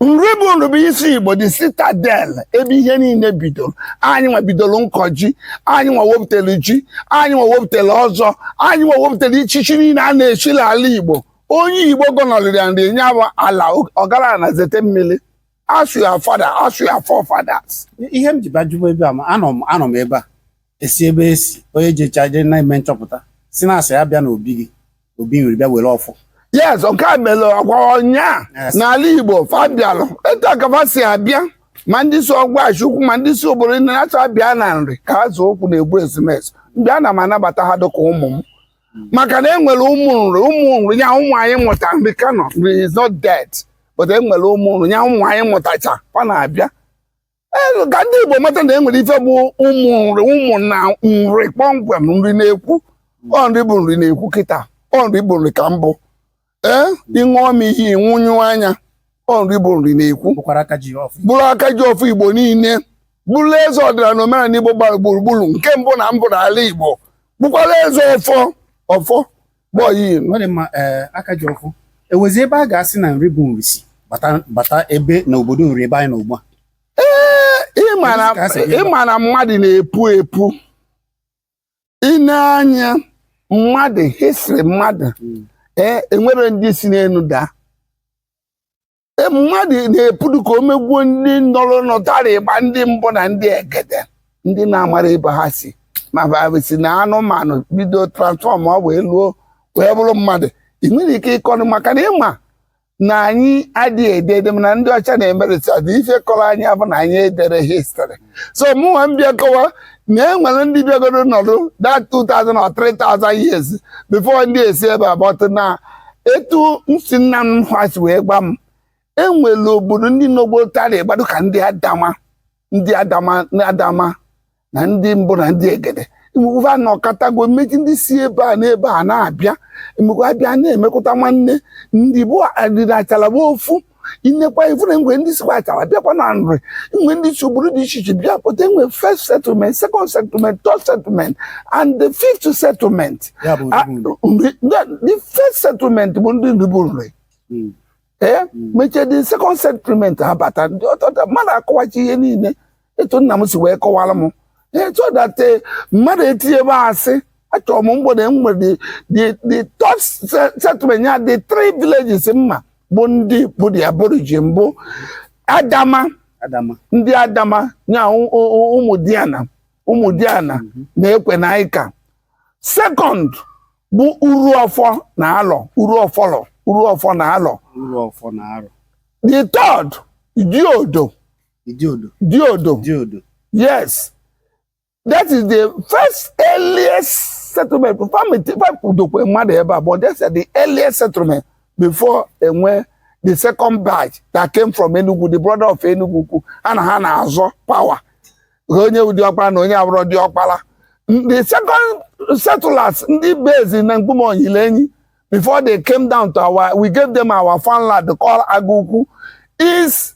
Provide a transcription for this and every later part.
nri bụ nri bụ isi igbo the citadel ebe ihe niile bidoro anyị nwa bidoro nkọ ji anyị nwa wepụtara ji anyị nwa wepụtara ọzọ anyị nwa wepụtara ichichi niile a na-echi n'ala igbo onye igbo gọnọrịrị ya nri nye bụ ala ọgaranya na zete mmiri ask your father ask your forefathers ihe m ji bajụba ebe a anọ m ebe a esi ebe esi onye jecha je na-eme nchọpụta si na asị ya bịa n'obi gị obi nwere bịa were ọfọ yes nke a mere ọkwa ọnya Yes. n'ala igbo fa bịalụ etu a ka fa si abịa ma ndị si ọgwashi ukwu ma ndị si obodo ndị na-achọ abịa na nri ka ha zụ okwu na-egbu ezumezu ndị ana m anabata ha dịka ụmụ m maka na enwere ụmụ nri ụmụ nri ya ụmụ anyị mụta nri ka nọ nri is not dead but enwere ụmụ nri ya ụmụ anyị mụtacha ọ na-abịa e, ka ndị Igbo mata na e nwere ife bụ ụmụ nri ụmụ na nri kpọmkwem nri na-ekwu ọ nri bụ nri na-ekwu kịta ọ nri bụ nri ka m bụ ee ịṅụọ m iyi nwụnyụ anya ọ nri bụ nri na-ekwu bụrụ aka ji ọfọ Igbo niile bụrụ eze ọdịnala na omenala Igbo gbara gburugburu nke mbụ na mbụ n'ala Igbo bụkwara eze ọfọ ọfọ kpọọ ya ilu ọ dị mma ee eh, aka ji ọfọ enwezi ebe a ga-asị na nri bụ nri si bata ebe na obodo nri ebe anyị nọ ugbu a ee eh, ị ma na mmadụ na-epu epu ịne anya mmadụ history mmadụ hmm. ee eh, enwere ndị si n'elu daa e, mmadụ na-epudu ka o megwuo ndị nọrọ nọtara ịgba ndị mbụ na ndị egede ndị na-amara ebe ha si ma si na anụmanụ bido transform ọ wee luo wee bụrụ mmadụ ị nwere ike ịkọrọ maka na ị ma na anyị adịghị ede ede mana ndị ọcha na-eme research ife kọrọ anyị bụ na anyị ederọ history so mụnwa m bịa kọwa na e nwere ndị bịagoro nọdụ that 2000 or 3000 years before ndị esi ebe a bata na etu nsi nna m ha si wee gwa m enwere obodo ndị nọgbo tara ịgba dị ka ndị adama na ndị mbụ na ndị egede mgbe a nọkọtago mmechi ndị si ebe a n'ebe a na-abịa mgbe abịa na-emekọta nwanne ndị bụ adịrị achala bụ ofu i nekwa ị fụ na enwe ndị sikwa achala bịakwa na nri enwe ndị si obodo dị iche iche bịa pụta enwe first settlement second settlement third settlement and the fifth settlement Ya bụ Ah, Ndịbulu. nri- the- the first settlement bụ ndị nri bụ nri Mm. ee mechie the second settlement abata ndị ọtọta mmadụ akọwachi ihe niile etu nna m si wee kọwara m so that eh, mmadụ etinye ebe asị achọrọ m mgbede m nwere the top settlement ya the three villages mma bụ ndị bụ the aborigine bụ adama ndị adama nya Ụmụdiana Ụmụdiana mhm. na Ekwenanika second bụ uru ọfọ na alọ uru ọfọlọ uru ọfọ na alọ the third diodo Idiodo. Diodo. Diodo. Yes. That is the first earliest settlement. Famidokwe mmadụ ebe a, but that's the earliest settlement before e nwee the second batch that came from Enugu, the brother of Enugwu Ukwu. Ha na ha na-azọ power. Onye bụ diọkpara na onye abụrọ diọkpara. The second settlers, ndị base na Mkpume Onyilenyi, before they came down to our, we gave them our farmland called Agukwu, is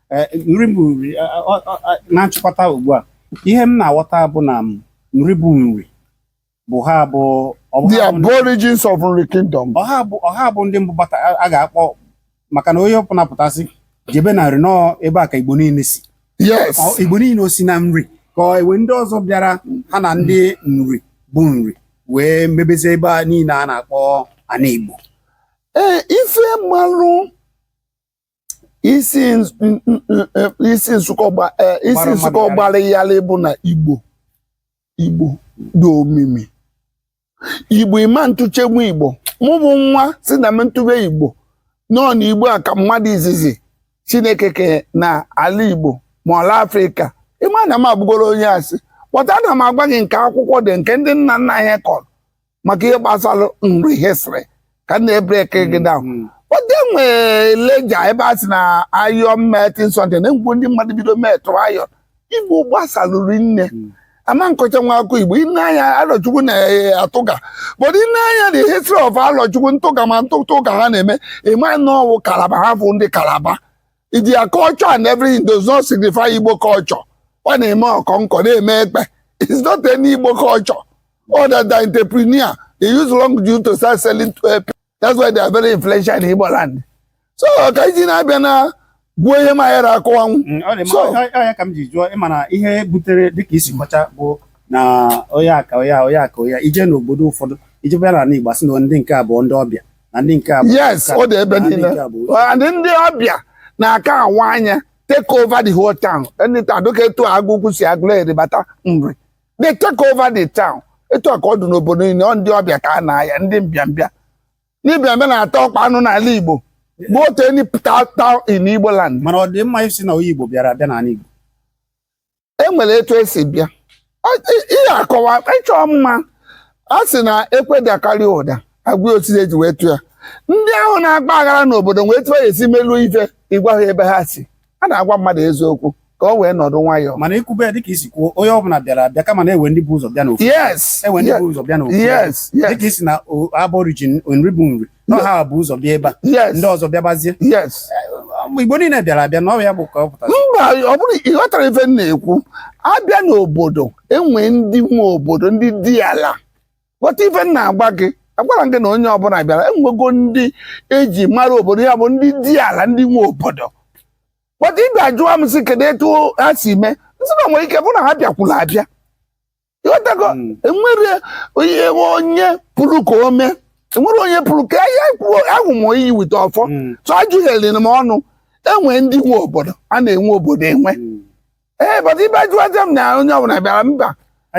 Eh, nri bụ nri eh, eh, na nchịkọta ugbu a ihe m na-aghọta bụ na nri bụ nri bụ ha bụ the aborigines of nri kingdom ọ ha bụ ndị mbụ bata a ga-akpọ maka na onye ọbụla pụtasị jebe na nri na ọ ebe a ka igbo niile si yes igbo niile o si na nri ka e nwere ndị ọzọ bịara ha na ndị nri bụ nri wee mebezie ebe a niile a na-akpọ ana igbo ee ife m malụ isi nz- n- n- n- isi nsụkọ gba- eh, isi Gbara mmadụ nsụkọ yarị. gbara yarị bụ na igbo igbo dị omimi igbo ịma ntụchegbu igbo mụ bụ nwa si na m ntụbe igbo nọ na igbo a ka mmadụ izizi chineke ke na ala igbo ma ala afrịka ịma na m abụgoro onye asị kpọta na m agwa gị nke akwụkwọ dị nke ndị nna nna anyị kọrọ maka ihe gbasara nri history ka m na-ebreki gị down Mm. oge nwee Lejja ebe a sị na iron melting centre na mgbe ndị mmadụ bido melt iron igbo gbasalụ rinne Mm. ama nkọcha nwa akụkọ igbo i nee anya alọchukwu na-atụga but i nee anya the history of alọchukwu ntụga ma ntụtụ ụka ha na-eme ịma na ọ wụ Calabar ha bụ ndị Calabar their culture and everything does not signify igbo culture ọ na-eme ọkọnkọ na-eme ekpe it's not any igbo culture Other than entrepreneur, they use long juju to start selling to uh, That's why they are very influential in Igbo land. So ka iji na-abịa na Igbo ihe ma ya akọwanwu. Mm, ọ dị mma, So- ọ- ọ- ọ ya ka m ji jụọ ịma na ihe butere dịka isi kọcha bụ na onye aka onye a, onye aka onye a, i jee n'obodo ụfọdụ ije bịa n'ala Igbo asị na ndị nke a bụ ndị ọbịa na ndị nke a bụ Yes, ọ dị ebe na ndị niile. nke a bụ- And ndị ọbịa na-aka awa anya take over the whole town. Anytime dịka etu agụkwu si Agụleri bata nri. they take over the town etu a ka ọ dị n'obodo niile ọ ndị ọbịa ka a na-aya ndị mbịambịa ndị mbịambịa na-ata ọkpa anụ n'ala Igbo go to any ta- town in Igbo land mana ọ dị mma ịsị na onye Igbo bịara abịa n'ala Igbo e nwere etu esi bịa Ọ- ị- ihe akọwa ịchọ mma a sị na ekwe dakarịa ụda agwa osisi eji wee tụ ya ndị ahụ na-agba aghara n'obodo wee tụọ ya esi meluo ife ịgwa ha ebe ha si a na-agwa mmadụ eziokwu ka o wee nọdụ nwayọọ mana ikwube dịka i si kwuo onye ọbụla bịara abịa kama na enwe ndị bu ụzọ bịa n'ofu yes enwe ndị bu ụzọ bịa n'ofu yes yes dịka ịsị na aborigine Nri bụ Nri na ọ ha bu ụzọ bịa ebe a yes ndị ọzọ bịabazie yes Igbo niile bịara abịa na ọ ya bụ ka ọ pụtara mba ọ bụrụ ị ghọtara ife m na-ekwu abịa n'obodo enwe ndị nwe obodo ndị di ala ghọta ife m na-agwa gị agwara m gị na onye ọbụla bịara enwego ndị eji mara obodo ya bụ ndị di ala ndị nwe obodo but ị bịa jụọ m sị kedu etu ha si mee m sị na nwere ike bụ na ha bịakwuru abịa ịghọtago Mm. enwere onye onye puru ka ome enwere onye puru ka ya kwuo ahụ m iyi wite ọfọ Mm. so ajụghịrị m ọnụ enwe ndị nwe obodo a na-enwe obodo enwe Mm. ee but ibe jụọ aja m na onye ọbụla bịara mba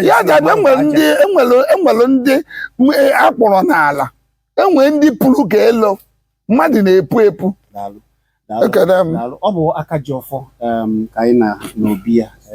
ya ji abịa enwere ndị enwere enwere ndị m- e, akpọrọ n'ala enwere ndị puru ka elo mmadụ na-epu epu Daalụ. Daalụ. Ekele m. Daalụ. ọ bụ Akajiọfọ em, ka anyị nọ n'obi ya eh,